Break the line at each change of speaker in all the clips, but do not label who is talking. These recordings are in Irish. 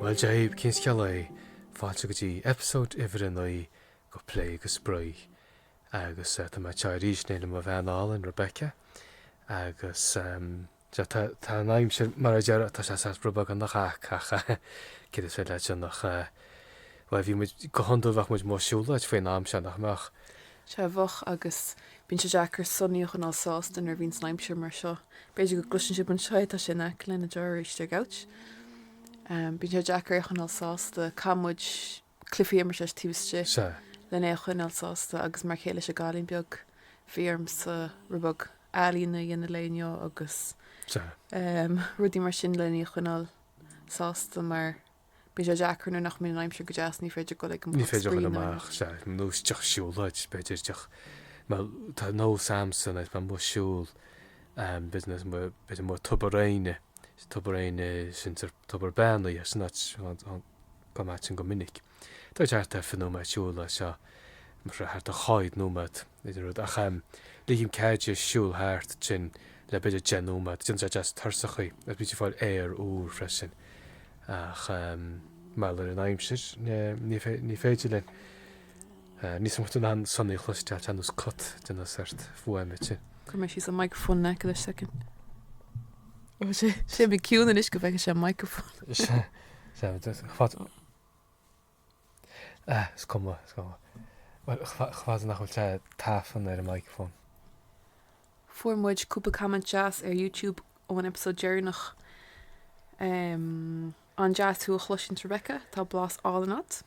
Bhuel Dia dhaoibh, cén scéal é? Fáilte go dtí episode uimhir a naoi de Plé agus Spraoi. Agus tá mé anseo arís, in éindí le mo bhean álainn, Rebecca, agus. Sea, tá an aimsir mar a deir, tá sé saghas rud beag ina chac ach céard is féidir leat a dhéanamh ach bhuel bhí muid, go hiondúil bheadh muid amuigh ag siúlóid faoin am seo, nach mbeadh? Sea, bheadh
agus bíonn sé deacair Sonny a choinneáil sásta nuair a bhíonns an aimsir mar seo. B'fhéidir go gcloiseann sibh anseo é, tá sé in aice linn, a deir Risteard Ouch. Bíonn sé deacair é a choinneáil sásta, caithfidh muid, cluichí mar sin taobh istigh Sea. len é a choinneáil sásta agus mar a chéile leis an gcailín beag bhí ormsa rud beag ealaín a dhéanamh léi inniu agus Sea. em rudaí mar sin len í a choinneáil sásta mar bíonn sé deacair nuair nach mbíonn an aimsir go deas ní féidir dul ag an Ní pub féidir spraoi dul nó aon amach
rud. sea nó isteach siúlóid b'fhéidir isteach mar tá nós a'msa anois amuigh ag siúl em b'fhéidir nós mar b'fhéidir mar Tobar Éinne, Tobar Éinne sin tobar i mBearna ar san áit an an Gabhann muid ansin go minic. Tá sé thart ar fiche nóiméad siúl as seo, más rud é thart ar chúig nóiméad nó den rud, ach ligim cead di siúl thart ansin le b'fhéidir deich nóiméad. Déanann sé deas tuirseach í agus bíonn sí ag fáil aer úr freisin. Ach mar gheall ar an aimsir ní féidir linn níos mó chun Sonny a chloisteáil anois cuid de na sórt fuaimeanna sin. Chuir mé síos an microfón
le haghaidh second. Ó sé sé bhí ciúin anois go bheidh sé microfón.
Fuair
muid cúpla comment deas ar Youtube ó an episode deireanach. An-deas thú a chloisint Rebecca, tá blas álainn agat.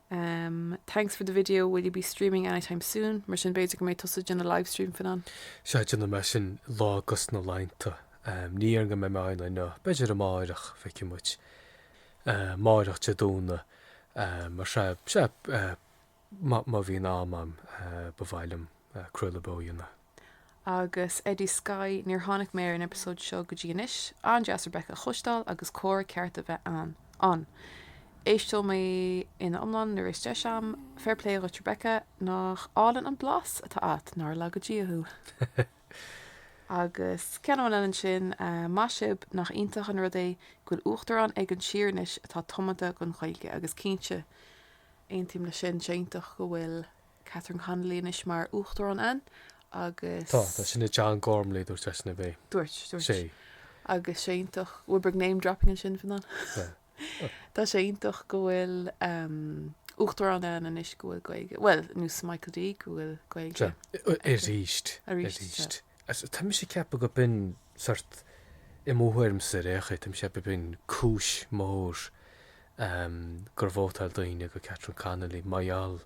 Um thanks for the video, will you be streaming anytime soon? Mar sin b'fhéidir go mbeidh tusa ag déanamh livestream fan an? Sea déanfaidh mé sin
lá de na laethanta. Um ní dhéarfainn go mbeidh mé ann inniu, b'fhéidir amárach, feicfidh muid. Um amárach Dé Domhnaigh, um mar sea, sea, eh má bhíonn am agam, eh ba mhaith liom craoladh beo a dhéanamh.
agus Eddie Skye, níor tháinig mé ar an eipeasóid seo go dtí anois. An-deas Rebecca a chloisteáil agus comhrá ceart a bheith ann. ann. Éisteoidh mé ina iomlán nuair a bheas deis a'm. Fair plé dhuit Rebecca, nach álainn an blas atá agat, nár laga Dia thú. Agus ceann amháin eile ansin, maith sibh, nach iontach an rud é go bhfuil uachtarán ag an tír anois atá tiomanta don Ghaeilge agus cinnte aontaím leis sin, tá sé iontach go bhfuil Catherine Connolly anois mar Uachtarán ann agus. Tá, tá, sin é
John Gormley a dúirt sé sin, a bhí. Dúirt, dúirt. sé. Agus sé iontach,
píosa beag name dropping ansin faoin am. Tá sé iontach go bhfuil Uachtarán ann anois go bhfuil Gaeilge, bhuel, ar nós Michael D go bhfuil Gaeilge. Sure, arís, arís.
Sea, tá mise ag ceapadh go b'in sort, i mo thuairmse ar aon chaoi, tá mise ag ceapadh go b'in cúis mór gur vótáil daoine go Catherine Connolly mar gheall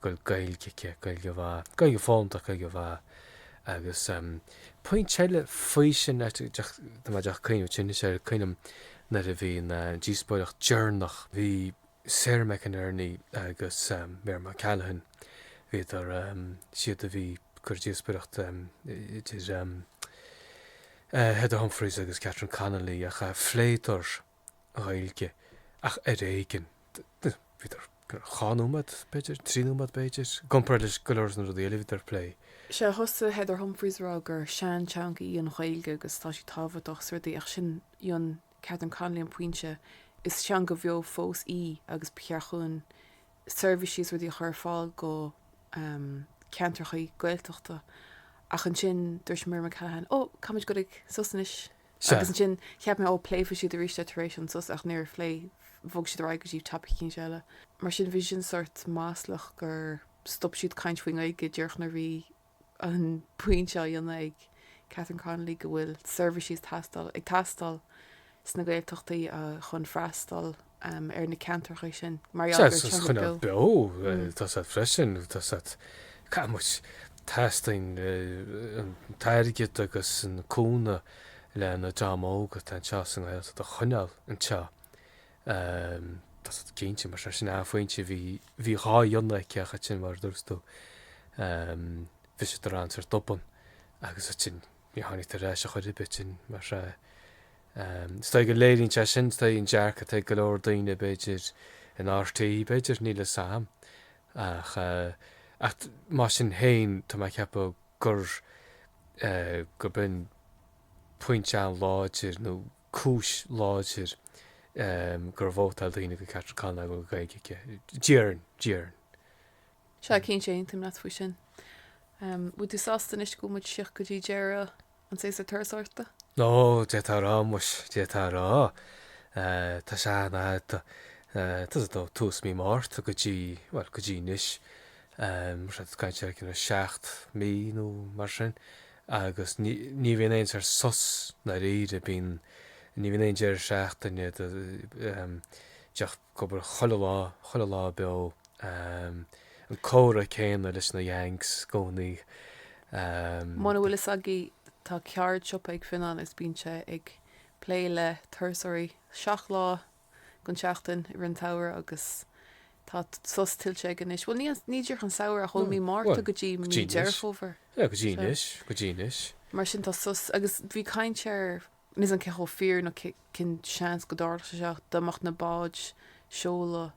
go bhfuil Gaeilge aici, Gaeilge mhaith, Gaeilge fónta ach Gaeilge mhaith. Agus pointe eile faoi sin, leis, díreach ag cuimhneamh, sin, is ea, cuimhnim nuair a bhí an díospóireacht deireanach, bhí Sarah McInerney agus Miriam O'Callaghan, bhíodar siad a bhí cur díospoireacht idir Heather Humphreys agus Catherine Connolly ach phléadar Ghaeilge ach ar éigin. Bhíodar dhá nóiméad b'fhéidir, trí nóiméad b'fhéidir, i gcomparáid le go leor de na rudaí eile a bhíodar a phlé. Sea, thosaigh
Heather Humphreys a rá gur sean teanga í an Ghaeilge agus tá sí tábhachtach is rudaí ach rinne Catherine Connolly an pointe, Is teanga bheo fós í agus ba cheart dhúinn seirbhísí is rudaí a chur ar fáil go ceantrachaí Gaeltachta ach ansin dúirt Miriam O'Callaghan oh caithfimid dul ag sos anois agus ansin cheap mé oh pléifidh siad arís é tar éis an sos ach níor phléigh bhog siad ar aghaidh go dtí topic eicínt eile mar sin bhí sin sort maslach gur stop siad caint faoin Ghaeilge díreach nuair bhí an pointe seo á dhéanamh ag Catherine Connolly go bhfuil seirbhísí tástáil ag teastáil sna Gaeltachtaí chun freastal ar na ceantracha sin mar gheall gur Is coinneáil coinneáil beo
beo tá's a'd freisin, tá's a'd I mean teastaíonn an t-airgead agus an cúnamh leis an dream óg atá anseo sa nGaeltacht a choinneáil anseo Tá sé cinnte, mar sin, an pointe, bhí dhá dhéanamh aici ach ansin, mar a dúras tú, bhí siad ar an sos tobann agus ansin ní tháinig ar ais a chur ar bith ansin, mar is dóigh go léiríonn sé sin, is dóigh an dearcadh atá ag go leor daoine, b'fhéidir, in RTÉ, b'fhéidir, níl 'fhios a'm. Ach mar sin féin, tá mé ag ceapadh gur go b'in pointe an-láidir nó cúis láidir gur vótáil daoine go Catherine Connolly go bhfuil Gaeilge aici. Dhearn,
dhearn. Sea, cinnte, aontaím leat faoi sin. Bhfuil tú sásta anois go bhfuil muid tíocht go dtí deireadh an tséasúir turasóireachta? Ó,
d'fhéadfá a rá, muis, d'fhéadfá a rá. Tá sé an-fhada, tá, tá's a'd ó, tús mí Márta go dtí, bhuel, go dtí anois, mar sin, caint ar, you know, seacht mí nó mar sin, agus ní bhíonn aon sórt sos ndáiríre, bíonn, ní bhíonn aon deireadh seachtaine díreach ag obair chuile lá, chuile lá beo, an comhrá céanna leis na Yanks i
gcónaí. Muna bhfuil fhios agaí tá ceardsiopa ag Fionán agus bíonn sé ag plé le turasóirí seacht lá. den tseachtain i rith an tsamhraidh agus tá sos tuillte aige anois. Bhuel, ní díreach an samhradh ach ó mhí Márta go dtí mí Deireadh Fómhair. Go dtí anois,
go dtí anois. Mar sin
tá sos agus bhí caint ar, níl fhios agam cé chomh fíor nó cén seans go dtarlódh sé seo, dá mbeadh na báid ag seoladh.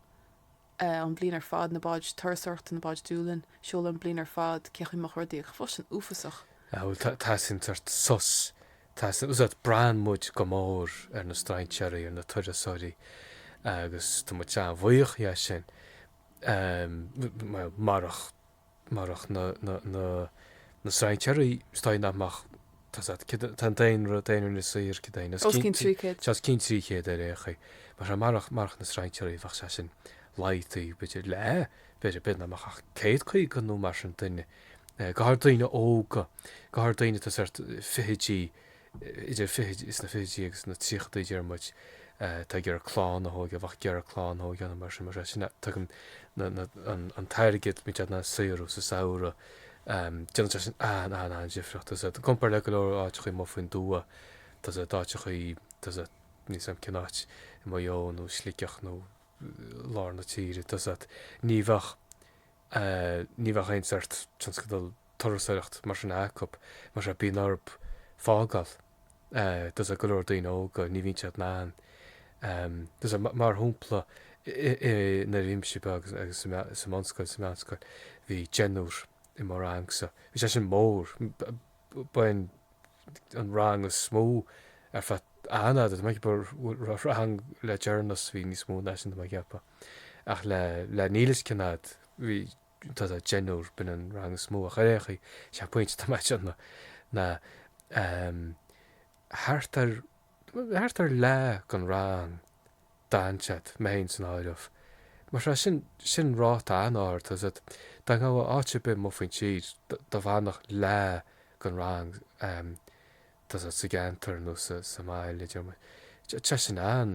eh an bliain ar fad, na báid turasóireachta, na báid Dúlainn, ag seoladh an bliain ar fad, cén chaoi a mbeadh rudaí ach fós sin uafásach. Bhuel teastaíonn
sórt sos tá fhios agat braitheann muid go mór ar na strainséaraí ar na turasóirí agus tá muid an-bhuíoch dhe sin. Em, bhuel, marach marach na na strainséaraí is dóigh nach mbeadh tá sé kinda tá an daonra daonra Inis Oírr kinda os cionn trí chéad os cionn trí chéad ar aon chaoi mar a marach marach na strainséaraí bheadh sé sin laghdaithe b'fhéidir le b'fhéidir b'fhéidir nach mbeadh ach céad caoga nó mar sin duine go háirid daoine óga go háirid daoine tá sórt fichidí idir is na fichidí agus na tríochadaí deir muid, tá ag iarraidh clann a thógáil a bheadh ag iarraidh clann a thógáil ann mar sin mar sea sin tugann an t-airgead muid in ann a shaothrú sa samhradh déanann sé sin an an an difríocht tá fhios agat i gcompar le go leor áiteachaí amuigh faoin dtuath tá fhios agat áiteachaí tá fhios agat níl fhios agam cén áit i Maigh Eo nó Sligeach nó lár na tíre tá fhios agat ní bheadh ní bheadh aon sórt tionscadal turasóireacht mar sin acu, más ea, bíonn orthu fágáil. Tá fhios agat go leor daoine óga, ní bhíonn siad in ann, tá fhios agat, mar shampla, i, nuair a bhí mise beag agus sa mbunscoil, sa mheánscoil, bhí deichniúr i mo rangsa. Bhí sé sin mór. Ba é an an rang is mó ar feadh an-fhada. Tá mé ag ceapadh go raibh rang le deireanas bhí níos mó ná sin, tá mé ag ceapadh. Ach le le níl fhios cén fhad, bhí. tá fhios agat deichniúr b'in an rang is mó ach ar aon chaoi sé an pointe atá mé a dhéanamh ná thart ar thart ar leath den rang d'fhan siad mé féin san áireamh mar tá sin sin ráta an-ard tá fhios agat dá ngabhfá áit ar bith amuigh faoin tír dá bhfanfadh leath den rang tá fhios agat sa gceantar nó sa sa mbaile deir muid tá sin an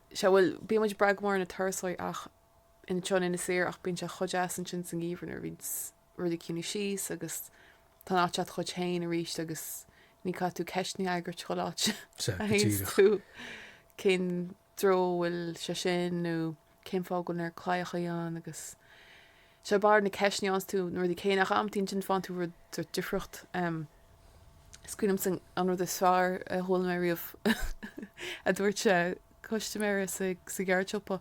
Sea, bhuel, bíonn muid ag brath go mór ar na turasóirí ach anseo in Inis Oírr ach bíonn sé chomh deas ansin sa ngeimhreadh nuair a bhíonn rudaí ag ciúnú síos agus tá an áit agat dhuit féin arís agus ní chaithfidh tú ceisteanna a fhreagairt chuile áit a théanns tú, cén dtreo a bhfuil sé sin nó cén fáth go bhfuil an oiread claíochaí ann agus. 'Sé barr na ceisteanna a's tú na rudaí céanna ach amantaí ansin faigheann tú rud éicint difriúil. Is cuimhin liomsa an rud is fearr a chuala mé riamh a dúirt custaiméir sa gceardshiopa.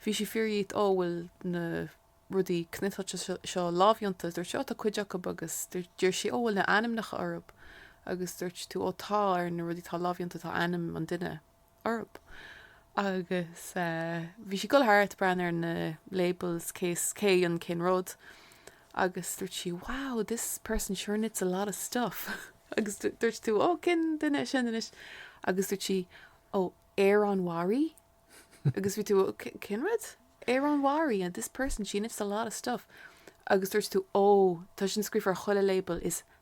Bhí sí ag fiafraí dhíot ó bhfuil na rudaí cniotáilte seo lámhdhéanta. Dúirt tú ó tá cuid acu agus dúirt sí ó bhfuil na ainmneacha orthu agus dúirt tú ó tá ar na rudaí atá lámhdhéanta tá ainm an duine. orthu agus bhí sí ag dul thart ag breathnú ar na labels cé hé an cén rud agus dúirt sí wow this person sure knits a lot of stuff agus dúirt tú ó cén duine é sin anois agus dúirt sí ó Aran Wear agus bhí tú cén rud Aran Wear and this person she knits a lot of stuff agus dúirt tú ó tá sin scríofa ar chuile label is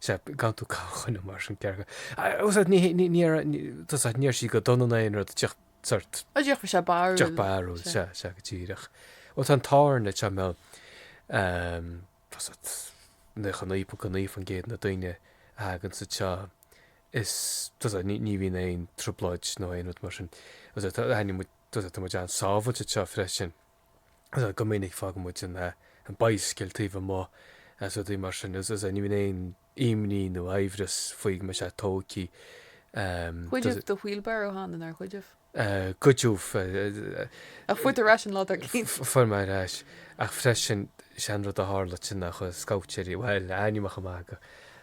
Sea, gan tú a cháineadh mar sin ceachtar. Sea, ní raibh sí go dona ná aon rud, just sort. Á, déarfadh sé barúil.
Déarfadh barúil, sea,
sea, go díreach. Bhuel, tá an t-ádh orainn anseo, mbeadh, ehm, tá sort, 99.9 faoin gcéad de na daoine a thagann anseo, is, tá sort, ní, ní bhíonn aon trioblóid nó aon rud mar sin. Tá sort, tá, aithnímid, tá sort, tá muid an-sábhailte anseo freisin. go minic fágann muid an bicycle taobh amuigh agus rudaí mar sin agus ní bhíonn aon imní nó amhras faoi go mbeidh sé tógtha.
Goideadh do wheelbarrow cheana, nár goideadh? Goideadh. Ach fuair tú ar ais an lá dár gcionn. Fuair mé ar
ais. Ach freisin, is é an rud a tharla ansin ná chuaigh scabhaitéirí, bhuel, amach i mbád go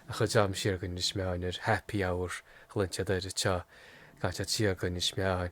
ndeachaigh dream siar go Inis Meáin ar happy hour, ghlan siad oiread seo gan siad siar go Inis Meáin.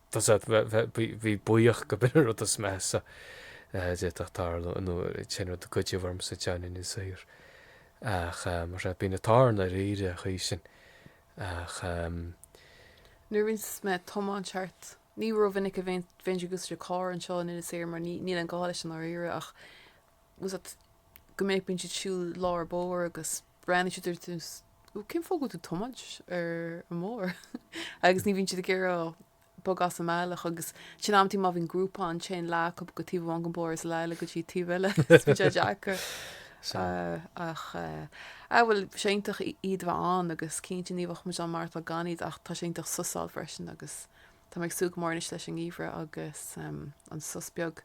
Tá's agat, bhí buíoch gurb in an rud is measa a d'fhéadfadh tarlú nó sin rud a goideadh orm anseo in Inis Oírr ach mar sin bíonn an t-ádh ort ndáiríre aige sin ach.
Nuair a rinne mé tiomáint cheart, ní rómhinic a bheinn ag úsáid carr anseo in Inis Oírr mar níl aon gá leis i ndáiríre ach tá's a'd go minic bíonn siad ag siúl i lár bóthair agus, Breathnaíonn siad ort, cén fáth go bhfuil tú ag tiomáint ar an mbóthar? agus ní bhíonn siad ag iarraidh bogadh as a mbealach agus sin amantaí má bhíonn grúpa ann téann leath acu go taobh amháin den bhóthar is leath eile go dtí taobh eile. Is bíonn sé deacair. Ach ó bhuel tá sé iontach iad a bheith ann agus cinnte ní bheadh muid ann mar atá gan iad ach tá sé iontach sos a fháil freisin agus tá mé ag súil go mór anois leis an ngeimhreadh agus an sos beag.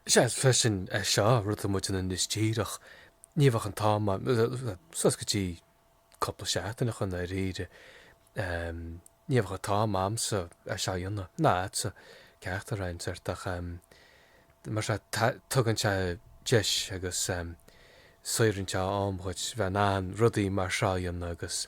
Is ea,
freisin, seo rud tá muid ann anois díreach. Ní bheadh an t-am ann, suas go dtí cúpla seachtain ó shin i ndáiríre. Ní bheadh an t-am a'msa é seo a dhéanamh, ná a'dsa, ceachtar againn, sórt, ach mar seo, tugann sé deis agus sórt an t-am dhuit bheith in ann rudaí mar seo a dhéanamh agus.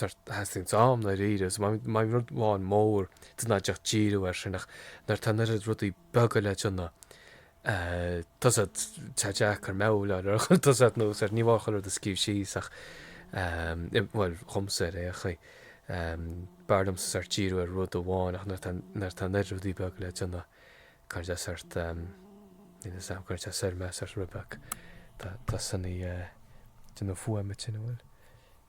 Sort theastaíonn am i ndáiríre, so má bhíonn rud amháin mór de na deich díriú air sin ach nuair atá an oiread rudaí beaga le déanamh tá sé deacair meabhláil ar chun tusa nó sort ní mór dhom rud a scríobh síos ach bhuel dhomsa ar aon chaoi b'fhearr liomsa sort díriú ar rud amháin ach nuair nuair atá an oiread rudaí beaga le déanamh cairde as sort níl fhios a'm cairde as ar mbeadh sort rud beag tá tá sé ag déanamh fuaime tinn amhail.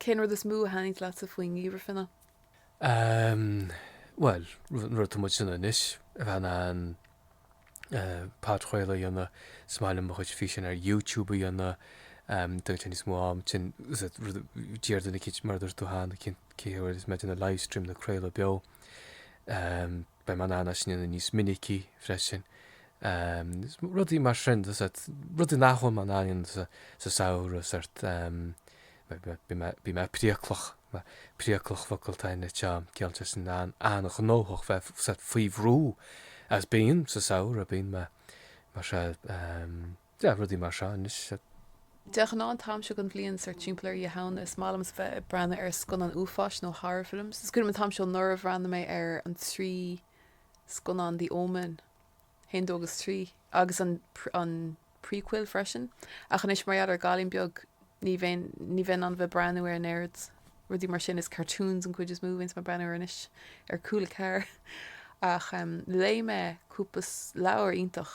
Cén rud is mó a thaitnigh leatsa faoin ngeimhreadh fine?
Ehm, bhuel, an rud tá muid ag déanamh anois, a bheith in ann podchraoladh a dhéanamh, is maith liom mo chuid físeáin ar YouTube a dhéanamh, ehm, do téann níos mó am, sin, is é rud a d'iarr duine cinn, mar a dúirt tú, cheana, cé hiad a bhfuil is mé ag déanamh livestream nó craoladh beo, ehm, Beidh mé in ann é sin a dhéanamh níos minicí freisin. Rudaí mar sin, rudaí nach bhfuil mé in ann a dhéanamh sa samhradh, sort, bíonn mé priaclach, priaclach focal atá anseo, ciallaíonn sé sin an-ghnóthach, bheith sort faoi bhrú, agus bím sa samhradh, bíonn mé, mar sin. Deich rudaí mar seo anois. De ghnáth
an t-am seo den bhliain, sort timpeall ar Oíche Shamhna, is maith liom bheith ag breathnú ar scannáin uafáis nó horror films. Is cuimhin liom an t-am seo anuraidh bhreathnaigh mé ar an trí scannán The Omen, 1, 2 agus 3, agus an an prequel freisin. Ach anois mar gheall ar an gcailín beag ní bheinn ní bheinn in ann bheith breathnú ar an oiread rudaí mar sin. Is cartoons an cuid is mó a bhíonns mé ag breathnú ar anois ar Cúla Ceathair. Ach léigh mé cúpla leabhar iontach.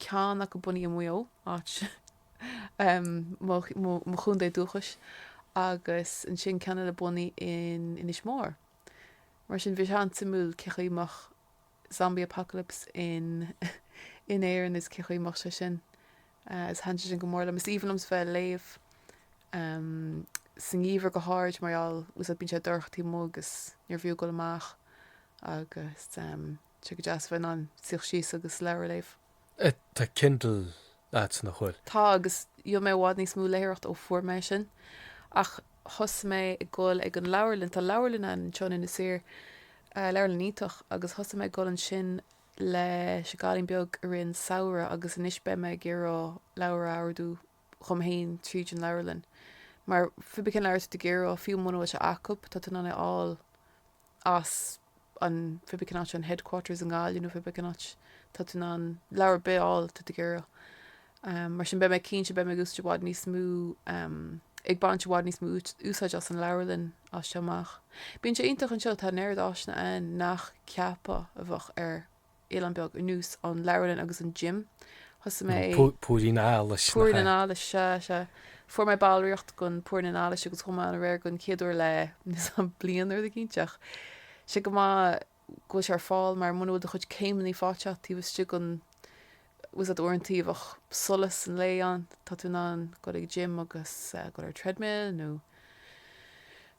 ceann acu bunaithe i Maigh Eo, áit mo chontae dúchais, agus ansin ceann eile bunaithe in Inis Mór. Mar sin bhí sé an-suimiúil cé chaoi mbeadh zombie apocalypse in in Éirinn is cé chaoi mbeadh sé sin. Is thaithin sé sin go mór liom. Is aoibhinn liom bheith ag léamh sa ngeimhreadh go háirid mar gheall tá fhios a'd bíonn sé dorcha taobh amuigh agus níorbh fhiú goil amach agus. Tá sé go deas bheith in ann suí síos agus leabhar a léamh. Eh
tá Kindle a'tsa nach bhfuil? Tá agus déanann
mé i bhfad níos mó léitheoireacht ó fuair mé é sin. Ach thosaigh mé ag goil ag an leabharlann, tá leabharlann ann anseo in Inis Oírr, eh leabharlann iontach agus thosaigh mé ag goil ansin leis an gcailín beag i rith an samhradh agus anois beidh mé ag iarradh leabhar a ordú dhom fhéin tríd an leabharlann mar cibé cén leabhar atá tú ag iarradh fiú muna bhfuil sé acub tá tú in ann é a fháil as an cibé cén áit an headquarters i nGaillimh nó cibé cén áit tá tú in ann leabhar ar bith a fháil atá tú ag iarraidh mar sin beidh mé cinnte beidh mé ag úsáid i bhfad níos mó ag baint i bhfad níos mó úsáid as an leabharlann as seo amach. Bíonn sé iontach anseo tá an oiread áiseanna ann nach gceapfá a bheadh ar oileán beag nós an leabharlann agus an gym. Thosaigh mé. Púirín
allais. Púirín an allais,
sea, sea. Fuair mé ballraíocht gon Púirín an Allais agus chuaigh mé ann aréir gon chéad uair le os cionn bliain nuair a bhí cinnte, ach sé go maith go bhfuil sé ar fáil mar muna bhfuil do chuid céimeannaí fáite agat taobh istigh gon bhfuil a fhios ad uaireanta a bheadh solas an lae ann tá tú in ann dul ag gym agus dul ar treadmill nó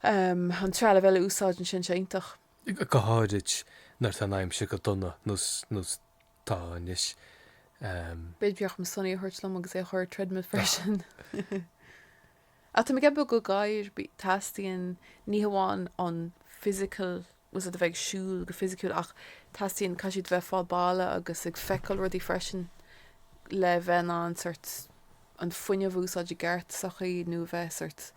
an trealamh eile a úsáid ansin sé iontach. go
háirid nuair tá an aimsir go dona nós tá
anois. B'fhéidir go bhféadfadh mé Sonny a thabhairt liom agus é a chur ar treadmill freisin. Ach tá mé ag ceapadh go ghadhair teastaíonn ní hamháin an physical bhfuil a fhios ad a bheith ag siúl go fisiciúil ach teastaíonn caithfidh siad bheith fáil baladh agus ag feiceáil rudaí freisin le bheith in ann sort an fuinneamh a úsáid i gceart sa chaoi nó bheith sort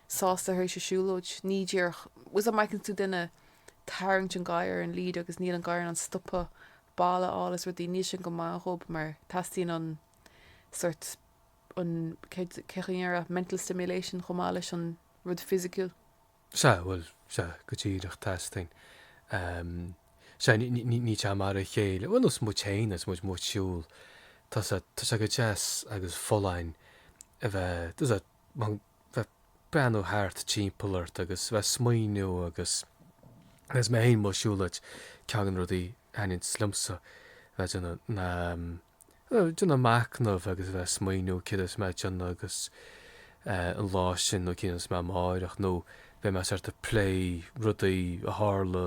sásta tar éis a siúlóid. Ní díreach. Bhfuil a fhios ad má fheiceann tú duine tarraingt an gadhar ar an lead agus níl an gadhar in ann stopadh baladh a fháil as rudaí níl sin go maith dhób mar teastaíonn an sort an céard cén chaoi a ndéarfá mental stimulation chomh maith leis an rud fisiciúil. Sea,
bhuel, sea, go díreach teastaíonn ehm sea ní ní ní tá mar a chéile bhuel nós muid féin agus muid muid siúl tá sé tá sé go deas agus folláin a bheith tá a fhios ad bheith breathnú thart timpeall ort agus bheith smaoiniú agus agus mé fhéin mo shiúlóid ceann go na rudaí a thaitníonns liomsa bheith déanamh ná déanamh machnamh agus bheith smaoiniú céard a bheas mé ag déanamh agus an lá sin nó céard a bheas mé amáireach nó bheidh mé sort ag plé rudaí a tharla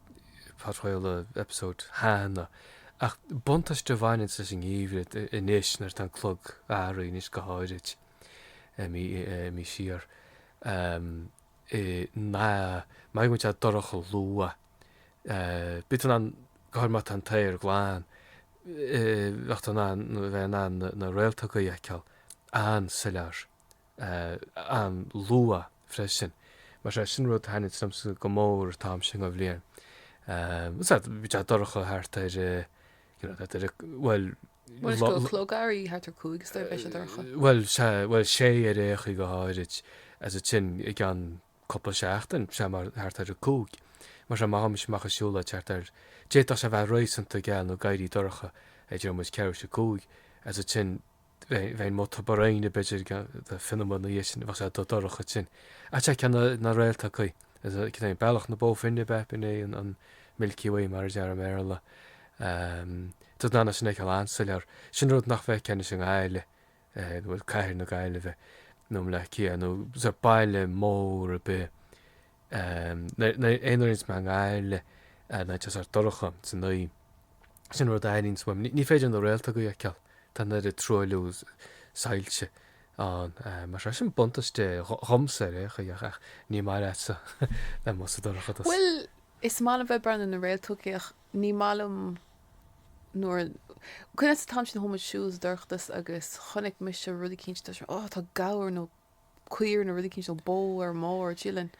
Fadfaol an eipeasóid cheana, ach buntáiste a bhaineann leis an ngeimhreadh anois nuair atá an clog athraithe anois go háirid imithe siar i mbeidh muid á dorcha luath. Bíonn tú in ann, go háirithe má tá an t-aer glan, bheadh tú in ann, bheadh in ann na réaltóga a fheiceáil an-soiléir an-luath freisin. Mar sea, sin rud a thaitníonns liomsa go mór an t-am sin den bhliain. Is ea, bhí sé dorcha thart ar, you know, thart ar, bhuel,
Bhuel, is an clog athraithe thart ar cúig is dóigh beidh sé dorcha. Bhuel, sea,
bhuel, sea ar aon chaoi go háirid, as a sin i gceann cúpla seachtain, sea, mar thart ar a cúig. Mar sea, má théimse amach ag siúl thart ar, d'fhéadfadh sé a bheith réasúnta geal nó éirí dorcha ag, déarfaidh muid, ceathrú tar éis a cúig, as a sin, Bheinn ag Tobar Éinne b'fhéidir fiche nóiméad ina dhiaidh sin, bheadh sé dubh dorcha ansin. Tá tú ag feiceáil na réaltóga. Cad é, Bealach na Bó Finne, ab ea? B'in é an Milky Way mar a deirtear i mBéarla. Tá tú in ann é sin a fheiceáil an-soiléir. Sin an rud nach bhfeiceann tú i nGaillimh, bhuel cathair na Gaillimhe, nó i mBleá Cliath, nó sa mbaile mór ar bith. aon uair a bhíonns mé i nGaillimh nuair atá sé sort dorcha san oíche. Sin rud a airímse uaim. Ní féidir na réaltógaí a fheiceáil, tá an oiread truailliú soilse ann. Mar sin, sin buntaiste dhomsa ar aon chaoi ach ní maith leatsa a bheith amuigh sa dorchadas. Bhuel,
is maith liom bheith breathnú ar na réaltógaí ach ní maith liom nuair, cuimhin leat an t-am sin a chuaigh muid ag siúl sa dorchadas agus chonaic mise rud eicínt a deir sé, oh, tá gabhar nó, caora nó rud eicínt bó ar an mbóthar dialann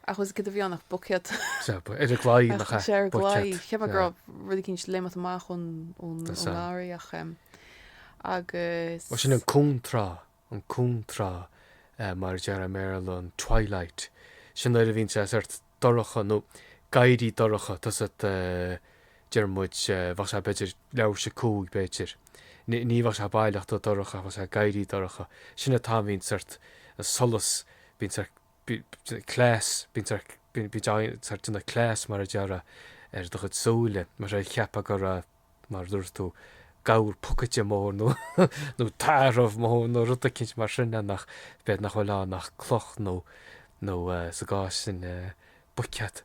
agus céard a bhí ann ach buicéad ar an gclaí
nach ea ar an gclaí buicéad cheap mé
go raibh rud eicínt ag léimt amach ón ón ngarraí ach agus. Sin
an contráth an contráth mar a deir an Béarla an twilight sin nuair a bhíonn sé sort dorcha nó ag éirí dorcha tá's a'd deir muid bheadh sé b'fhéidir leathuair tar éis a cúig b'fhéidir ní ní bheadh sé baileach dubh dorcha ach bheadh sé ag éirí dorcha sin an t-am a bhíonn sort an solas bíonn sé bíonn cleas bíonn sé bíonn bíonn sé déanamh cleas mar a déarfá ar do chuid súile mar cheapfá go raibh mar a dúirt tú, gabhar pocaide mór nó tarbh mór nó rud eicínt mar sin ann ach b'fhéidir nach bhfuil ann ach cloch nó nó sa gcás sin buicéad.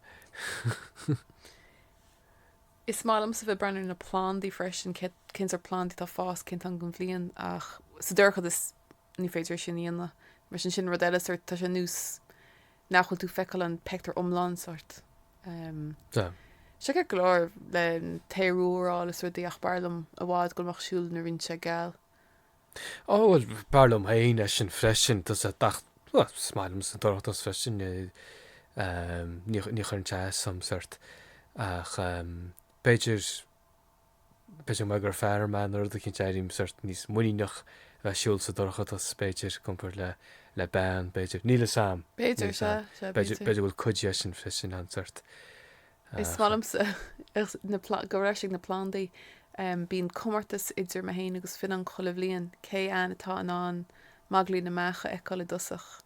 Is maith liomsa bheith breathnú ar na plandaí freisin, cén sort plandaí atá ag fás, cén t-am den bhliain ach sa dorchadas Ní féidir é sin a dhéanamh. Mar sin sin rud eile sort tá sé nós nach bhfuil tú feiceáil an pictiúr iomlán sort. Tá sé ceart go leor le taorúráil is rudaí ach b'fhearr liom i bhfad a ghoil amach ag siúl nuair a bhíonns sé geal.
Ó bhuel b'fhearr liom féin é sin freisin. Tá's a'd bhuel is maith liomsa an dorchadas freisin é ní chuireann sé as dhom sort ach b'fhéidir B'fhéidir mar gur fear mé nó rud eicínt airím seort níos muiníneach a bheith ag siúl sa dorchadas b'fhéidir compared le, le bean b'fhéidir. Níl 'fhios a'm. B'fhéidir, sea, sea, b'fhéidir. B'fhéidir
go bhfuil cuid
dhe sin freisin ann seort. Is
maith liomsa na, ag goil ar ais ag na plandaí. Bíonn comórtas idir mé fhéin agus Fionnán chuile bhliain, cé againn atá in ann magairlín na mbeach a fheiceáil i dtosach.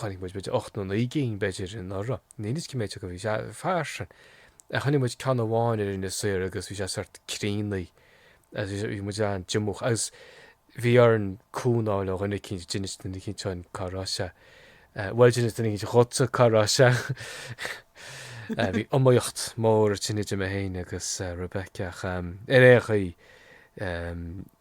Chonaic muid b'fhéidir ocht nó naoi gcinn, b'fhéidir, anuraidh, níl fhios cé mhéid acu, bhí sé fairsing. Chonaic muid ceann amháin ar Inis Oírr agus bhí sé sort críochnaithe agus bhí muid an-díomúch agus bhí orainn cúnamh a fháil ó dhuine eicínt, d'inis duine eicínt dhúinn cá raibh sé, bhuel, d'inis duine eicínt dhuitse cá raibh sé. Bhí iomaíocht mhór ansin idir mé féin agus Rebecca ach ar aon chaoi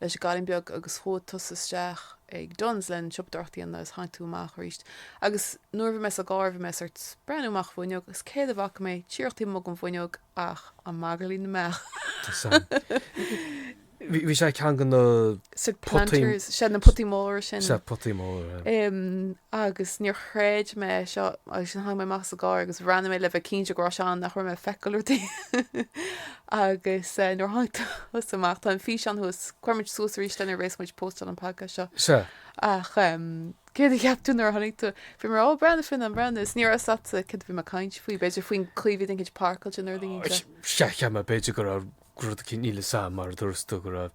leis an gcailín beag agus chuaigh tusa isteach ag Dunnes leis an tsiopadóireacht a dhéanamh is tháinig tú amach arís agus nuair a bhí mé sa gcarr bhí mé sort ag breathnú amach an bhfuinneog agus céard a bhfaca mé díreach taobh amuigh den bhfuinneog ach an magairlín na mbeach. Tá's
a'm. Bhí sé i gceann de na. Sa Planters,
sea na potaí móra sin. Sea, potaí móra. agus níor chreid mé seo agus sin chuaigh mé amach as an gcarr agus bhreathnaigh mé le bheith cinnte go raibh sé ann nach raibh mé ag feiceáil rudaí agus nuair tháinig tusa amach tá an fís ann thuas cuirfidh muid suas aríst é nuair a bheas muid ag postáil an podcast seo Sea. ach céard a cheap tú nuair a tháinig tú? Bhí mé ag rá ó breathnaigh finn an breathnaigh is ní raibh 'fhios a'tsa céard a bhí mé ag caint faoi b'fhéidir faoin chaoi a bhí duine éicint páirceáilte nó rud éigin de. Sea, cheap mé
b'fhéidir go raibh rud níl fhios a'm mar a dúirt tú go raibh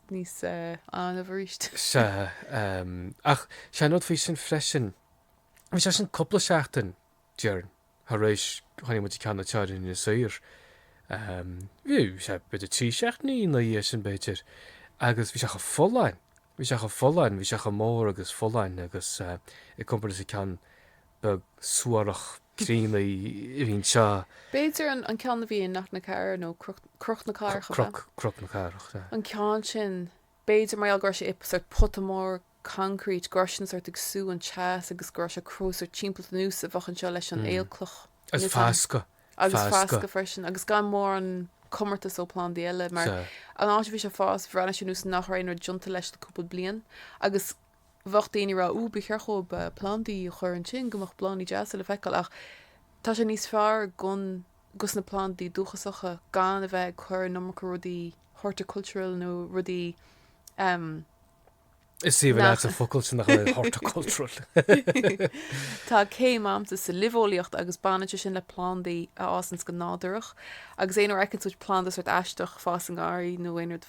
níos annamh arís.
Sea, ach sé an rud faoi sin freisin, bhí sé sin cúpla seachtain, déarfainn, thar éis chonaic muid an ceann na teorainne soir. Bhí sé b'fhéidir trí seachtaine ina dhiaidh sin, b'fhéidir, agus bhí sé chomh folláin, bhí sé chomh folláin, bhí sé chomh mór agus folláin agus i gcomparáid leis an ceann beag suarach, gránna a bhí anseo. B'fhéidir an
ceann a bhí i Knocknacarra nó Cnoc na Cathrach, ab ea? Cnoc na Cathrach,
sea. An ceann sin,
b'fhéidir mar gheall go raibh sé i sórt pota mór concrete, go raibh sé sin sórt ag sú an teas agus go raibh sé ag cruthú sórt timpeallacht ar nós a bheadh anseo leis an aolchloch. Agus
foscadh, foscadh. Agus
foscadh freisin, agus gan mórán comórtas ó plandaí eile, mar an áit a bhí sé ag fás, bhreathnaigh sé ar nós nach raibh aon rud déanta leis le cúpla bliain, agus Bheadh daoine ag rá, 'Ó, ba cheart dhóibh plandaí a chur ansin go mbeadh bláthannaí deasa le feiceáil, ach tá sé níos fearr don, dos na plandaí dúchasacha gan a bheith ag cur an iomarca rudaí horticultural nó rudaí ehm.
Is aoibhinn leat an focal sin, nach ea,
horticultural. Tá céim a'msa sa luibheolaíocht agus baineann sé sin le plandaí a fhásanns go nádúrach, agus aon uair a fheiceanns muid plandaí sórt aisteach ag fás i ngarraí nó aon rud.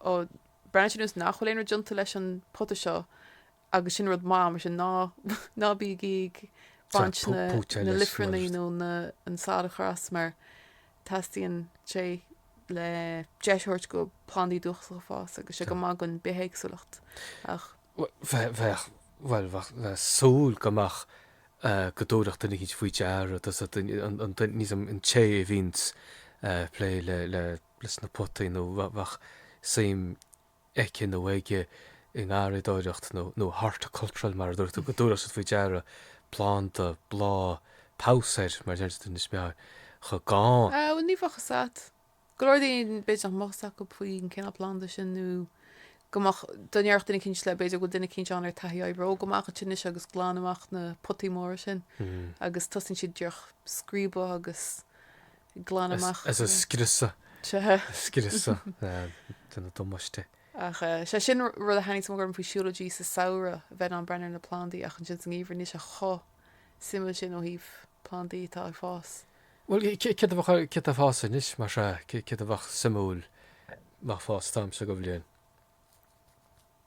Ó, breathnaíonn sé ar nós nach bhfuil aon rud déanta leis an pota seo agus sin rud maith, mar sin ná, ná bígí ag baint na, na luifearnaí nó na, an salachar as mar teastaíonn sé le deis a thabhairt do plandaí dúchasacha fás agus tá sé go maith don bithéagsúlacht ach. bheith,
bheadh, bhuel, bheadh le súil go mbeadh go dtabharfadh duine éicint faoi deara, tusa, an, an, an té a bhíonns ag plé le, le. leis na potaí nó bheadh suim aici nó aige i ngarraíodóireacht nó horticultural mar a dúirt tú, go dtabharfadh siad faoi deara planda, bláth, pabhsae mar a deir siad in Inis Meáin chomh gann. Bhuel ní bheadh 'fhios
a't. Go leor daoine b'fhéidir nach mbeadh 'fhios acu faoi an cineál planda sin nó go mbeadh, dá ndéarfadh duine éicint leat b'fhéidir go bhfuil duine éicint ann ar taithí oibre, 'Ó gabh amach ansin anois agus glan amach na potaí móra sin agus tosaíonn siad díreach ag scríobadh agus glanadh amach. Agus á
scriosadh. Sea. Á scriosadh ag déanamh damáiste. Ach sé
sin rud a thaitníonns go mór liom faoi siúlóidí sa samhradh, bheith in ann breathnú ar na plandaí ach ansin sa ngeimhreadh níl sé chomh suimiúil sin ó thaobh plandaí atá ag fás. Bhuel,
céard a bheadh céard atá ag fás anois mar sea, céard a bheadh suimiúil ag fás an t-am seo de bhliain?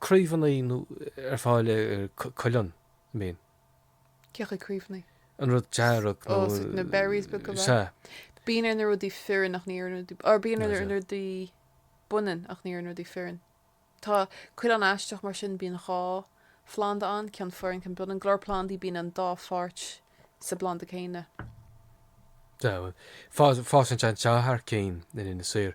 craobhannaí nó ar fáil ar cuileann, an mbíonn. Cé
acu craobhannaí? an rud
dearg nó Ó, na berries,
b'fhéidir go, sea. Bíonn
ar na
rudaí fireann ach ní ar na rudaí or bíonn ar na rudaí baineann ach ní ar na rudaí fireann. Tá cuileann aisteach mar sin bíonn dhá phlanda ann ceann fireann ceann baineann. Go leor plandaí bíonn an dá pháirt sa bplanda céanna. Deamhan.
Fásann sé anseo thar cinn in Inis Oírr.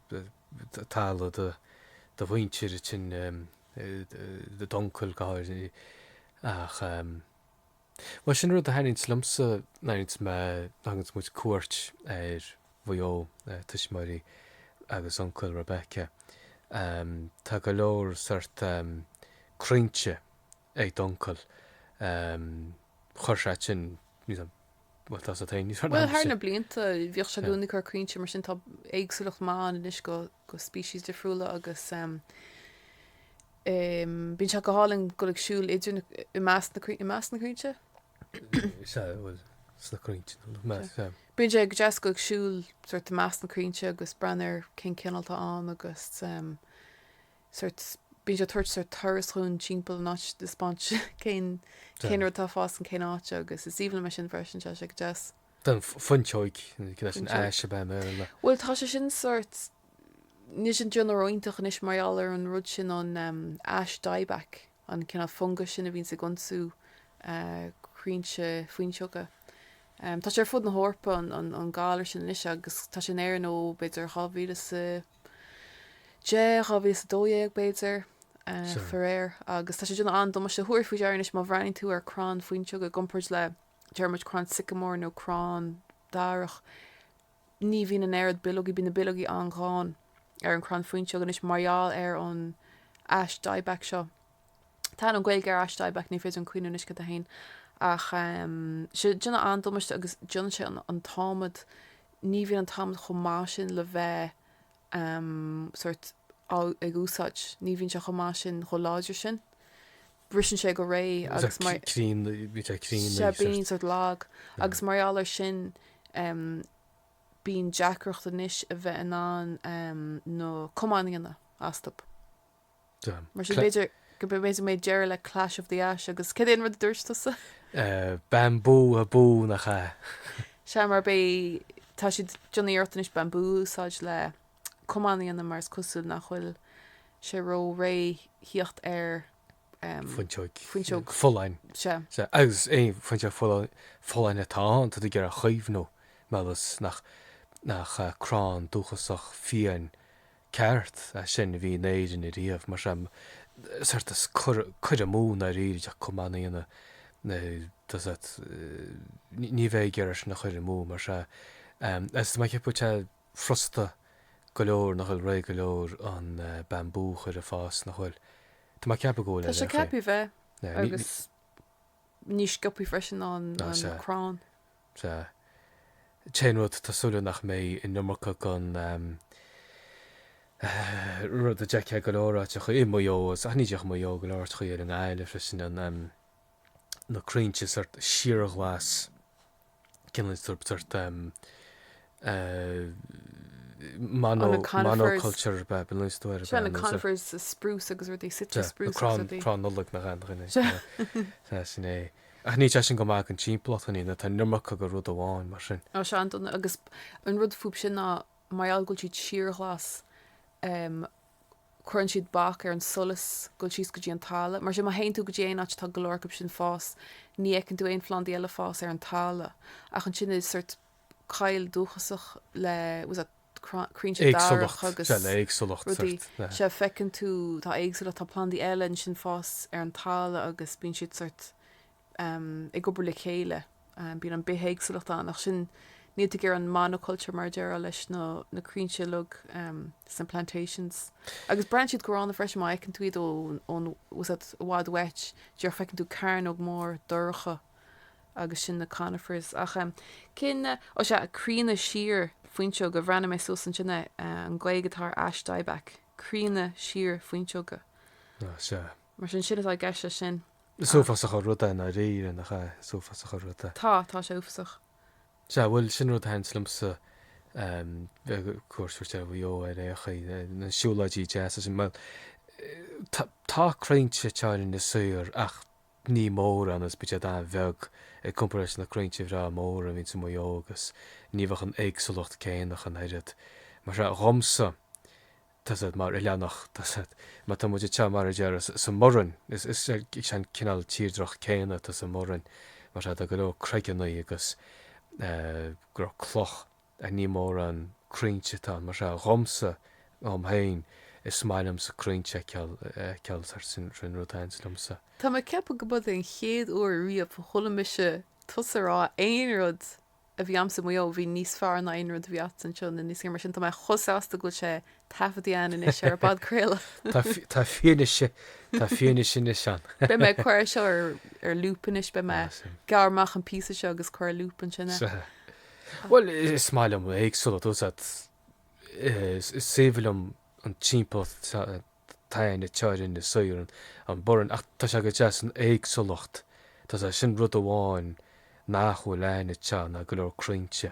tharla do mhuintir sin, d'uncail go háirithe ach bhuel sin rud a tharraingt liomsa nuair a thuganns muid cuairt ar Mhaigh Eo tuismitheoirí agus uncail Rebecca tá go leor sort crainnte ag d'uncail. Chuir sé sin níos mó, bhuel, tá sé taobh níos fearr na Bhuel, thar na
hainnise. blianta, bhíodh sé i Yeah. gcónaí ag cur crainnte, mar sin tá éagsúlacht maith ann anois go, go species difriúla agus em, em, bíonn sé go hálainn dul ag siúl idir na, i measc na crai-, i measc na crainnte? Sea, bhuel, sna crainnte, nó i measc, sea. Bíonn sé go deas goil ag siúl sort i measc na crainnte agus breathnú ar cén cineál atá ann agus em, sort bíonn sé tabhairt sort turas dhúinn timpeall an áit ag taispeáint cén cén rud tá fás in cén áit agus is aoibhinn liom sin freisin sé sé go deas. Don fhuinseoig
leis an
ais ab
ea mé le.
Bhuel tá
sé sin
sort
níl
siad ag déanamh ró-iontach anois mar gheall ar an rud sin an ash dieback an cineál fungas sin a bhíonns ag ionsú crainnte fuinseoga. Tá sé ar fud na hEorpa an galar sin anois agus tá sé in Éirinn ó b'fhéidir 2000 is. Deich, 2012 b'fhéidir, faraor, agus tá sé déanamh an-damáiste. Thabharfá faoi deara anois má bhreathnaíonn tú ar crann fuinseog i gcomparáid le, deir muid, crann sycamore nó crann darach, ní bhíonn an oiread bileogaí, bíonn na bileogaí an-ghann ar an crann fuinseog anois mar gheall ar an ash dieback seo. Tá an Ghaeilge ar ash dieback, ní féidir liom cuimhniú anois cad é fhéin ach em, sé déanamh an-damáiste agus déanann sé an, an t-adhmad, ní bhíonn an t-adhmad chomh maith sin le bheith em sórt á, ag úsáid, ní bhíonn sé chomh maith sin, chomh láidir sin. Briseann sé go réidh Agus agus mar, crín, bhí sé crín. sé agus bíonn sort lag agus mar gheall ar sin em bíonn deacracht anois a bheith in ann em na camáin a dhéanamh astu. Mar sin b'fhéidir go mbeidh, mbeidh deireadh le Clash of the Ash agus cén rud a dúirt tusa?
Bambú a bú nach ea? Sea, mar bé,
tá siad déanamh iarracht anois bambú a úsáid le camáin a dhéanamh mar is cosúil nach bhfuil sé ró réidh thíocht ar
Fuinseog. Fuinseog. Folláin. Sea. Sea,
agus
é fuinseog folláin, folláin atá ann, tá tú ag iarraidh a chaomhnú, más é nach, nach crann dúchasach fiáin ceart ansin a bhí in Éirinn ariamh mar seo, sort of cuir amú nár éirigh ach chomh maith aoinne, does that, ní bheidh ag iarraidh sin a chuir amú mar seo. Agus tá mé ag ceapadh tá sé frosta go leor nach bhfuil réidh go leor an bambú a chur ag fás nach bhfuil? Tá mé ag ceapadh go bhfuil Tá sé ag ceapadh bheith
agus níos sciobtha freisin ná crann.
Sea. Téann rud, tá súil agam nach mbeidh an iomarca gon rud a d'fheicfeá go leor áiteachaí i Maigh Eo, agus ach ní déarfaidh Maigh Eo, go leor áiteachaí i nGaillimh freisin, an, na crainnte sort síorghlas, cineál sort, sort. Mono, monoculture, ba, b'fhéidir, Seo na conifers,
sa spruce agus rudaí, Sitka spruce agus rudaí. Crann, crann Nollag nach
ea. Sea, sin é. Ach níl sé sin go maith gon timpeallacht ar aon chaoi, tá an iomarca go rud amháin mar sin. Ó, tá sé an-dona,
agus an rud fúbu sin ná mar gheall go bhfuil siad síorghlas, cuireann siad bac ar an solas ag goil síos go dtí an talamh. Mar sin, má théann tú go dtí aon áit atá go leor acub sin ag fás, ní fheiceann tú aon phlandaí eile ag fás ar an talamh. Ach ansin is sort, coill dúchasach le you know, sort crainnte darach agus éagsúlacht rudaí so feiceann tú tá éagsúlacht tá plandaí eile ansin ag fás ar an talamh agus bíonn siad sort um, ag obair le chéile um, bíonn an bhithéagsúlacht ann ach sin ní thagann an monoculture mar a déarfá leis nó na crainnte Nollag um, sna plantations agus breathnaíonn siad go gránna freisin má fheiceann tú iad ón you know, sort i bhfad uait abair feiceann tú cearnóg mór dorcha agus sin na Conifers ach eh cén eh ó sea críonadh siar fuinseoige bhreathnaigh mé suas ansin eh an Gaeilge atá ar Ash Dieback críonadh siar fuinseoige Ó sea. mar sin sin atá i gceist leis sin. Is uafásach an rud
é dáiríre, nach ea? Is uafásach an rud é. Tá, tá sé
uafásach. Sea,
bhuel, sin rud a thaitin liomsa ehm faoi chuairt a thabhairt ar Mhaigh Eo ar aon chaoi, na na siúlóidí deasa ansin. Bhuel, eh tá tá crainnte againn in Inis Oírr ach ní mórán, agus bíonn siad an-bheag i gcomparáid leis na crainnte bhreá móra a bhíonns i Maigh Eo agus ní bheadh an éagsúlacht céanna ach an oiread. Mar sin, dhomsa, tá's a'd mar oileánach, tá's a'd, má tá muid anseo mar a déarfá sa mBoireann, is is an cineál tírdreach céanna atá sa mBoireann mar tá go leor craigeanna agus eh go leor cloch. Ach ní mórán crainnte atá mar sin dhomsa dhom féin. Is maith liomsa crainnte a fheiceáil, sin an rud a thaitníonns liomsa. Tá mé ag ceapadh go
mba é an chéad uair riamh a chuala mise tusa a rá aon rud a bhí a'msa i Maigh Eo a bhí níos fearr ná aon rud a bhí a'dsa anseo, nó níos fearr mar sin. Tá mé chomh sásta go bhfuil sé Taifeadta ann anois ar an bpodchraoladh.
Tá fianaise, tá fianaise anois ann. Beidh mé ag cur é
seo ar loop anois, beidh mé ag gearradh amach an píosa seo agus cur ar loop ansin é. Bhuel,
is maith liom éagsúlacht, you see, is aoibhinn liom an timpeallacht atá againne thoir in Inis Oírr, an Boireann, ach tá sé go deas an éagsúlacht, tá, sé sin rud amháin nach bhfuil againne ná go leor crainnte.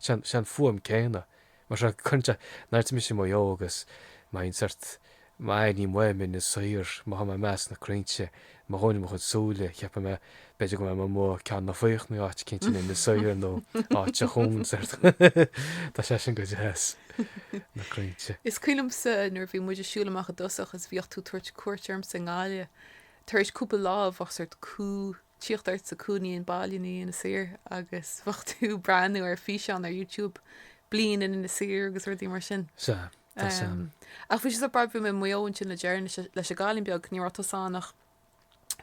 Sé an fuaim céanna, mar seo cinnte, nuair tá mise i Maigh Eo agus má bhíonn sórt, má airím uaim Inis Oírr, má tá mé i measc na crainnte, má dhúnaim mo chuid súile, cheapfadh mé, b'fhéidir go mbeidh mé amuigh Ceann na Faochnaí nó áit eicínt in Inis Oírr nó áit eicínt, sórt. Tá sé sin go deas, na crainnte. Is cuimhin
liomsa nuair a bhí muid ag siúl amach i dtosach is bhíodh tú ag tabhairt cuairt ormsa i nGaillimh tar éis cúpla lá bheadh sórt cumha Tíocht ort sa cúinín baile i ndiaidh Inis Oírr agus bheadh tú breathnú ar físeán ar YouTube Bliain in Inis Oírr agus rudaí mar sin. Sea, tá sé. Um, ach bhí sé barrúil, bhí mé i Maigh Eo ansin le deireanas leis an gcailín beag, ní raibh tusa ann ach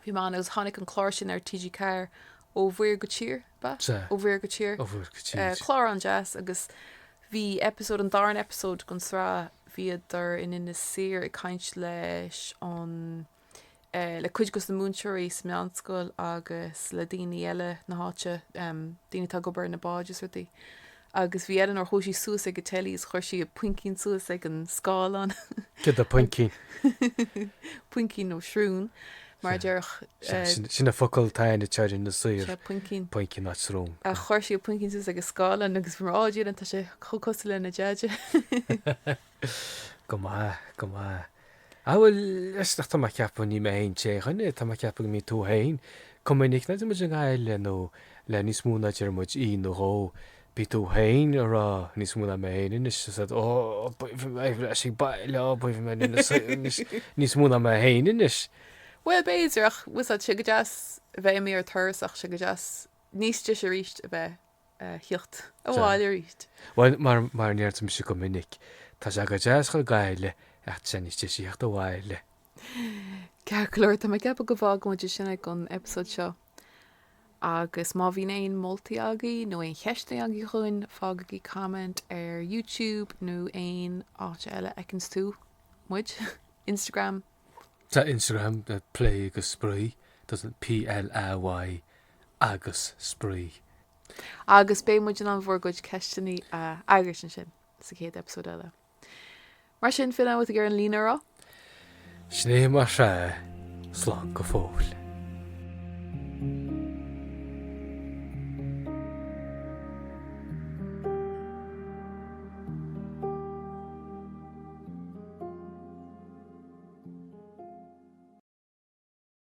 bhí Mam agus tháinig an clár sin ar TG4 Ó Mhuir go Tír, ab ea? Sea. Ó Mhuir go Tír. Ó Mhuir go Tír. Uh, clár an-deas agus bhí episode, an darna episode gon sraith bhíodar in Inis Oírr ag caint leis an le cuid de na múinteoirí sa mheánscoil agus le daoine eile na háite, daoine atá ag obair ar na báid is rudaí. Agus bhí Eleanor, chuaigh sí suas ag an teilí agus chuir sí a poincín suas ag an scáileán. Cad é poincín? Poincín nó srún, mar a déarfá. Sea, sin an
focal atá againne thoir in Inis Oírr. Sea, poincín. Poincín ná
srún.
Ach chuir sí a poincín
suas ag an scáileán agus bhí mé, 'Á Dia, tá sé chomh cosúil lena deaide.
Go maith, go maith. Ah bhuel, is nach tá mé ag ceapadh, ní mé féin an t-aon duine, tá mé ag ceapadh go mbíonn tú féin chomh minic nuair atá muid i nGaillimh le níos mó ná deir muid oíche nó dhó, bíonn tú féin a rá níos mó ná mé féin anois, 's agat, oh, b'aoibhinn liom a bheith ag baile, oh, b'aoibhinn liom, níos mó, níos, níos mó ná mé féin anois. Bhuel, b'fhéidir,
ach, a fhios agat, sé go deas bheith imithe ar turas ach sé go deas níos deise aríst a bheith. theacht abhaile arís. Bhuel,
mar a ndeirimse go minic, tá sé go deas a ghoil go Gaillimh, ach tá sé níos deise theacht abhaile.
Ceart go leor, tá mé ag ceapadh go bhfágfaidh muid ansin é gon eipeasóid seo. Agus má bhíonn aon moltaí agaibh nó aon cheisteanna agaibh chugainn, fágaigí comment ar YouTube nó aon áit eile a fheiceanns tú muid. Instagram? Tá
Instagram, Play agus spraoi, doesn't PLAY. agus spraoi. Agus
beidh muid in ann bhur gcuid ceisteanna a fhreagairt ansin sa chéad eipeasóid eile. Mar sin,
fill amh with a
gcur an líne a
rá.
Sin é
mar
sea, slán
go
fóill.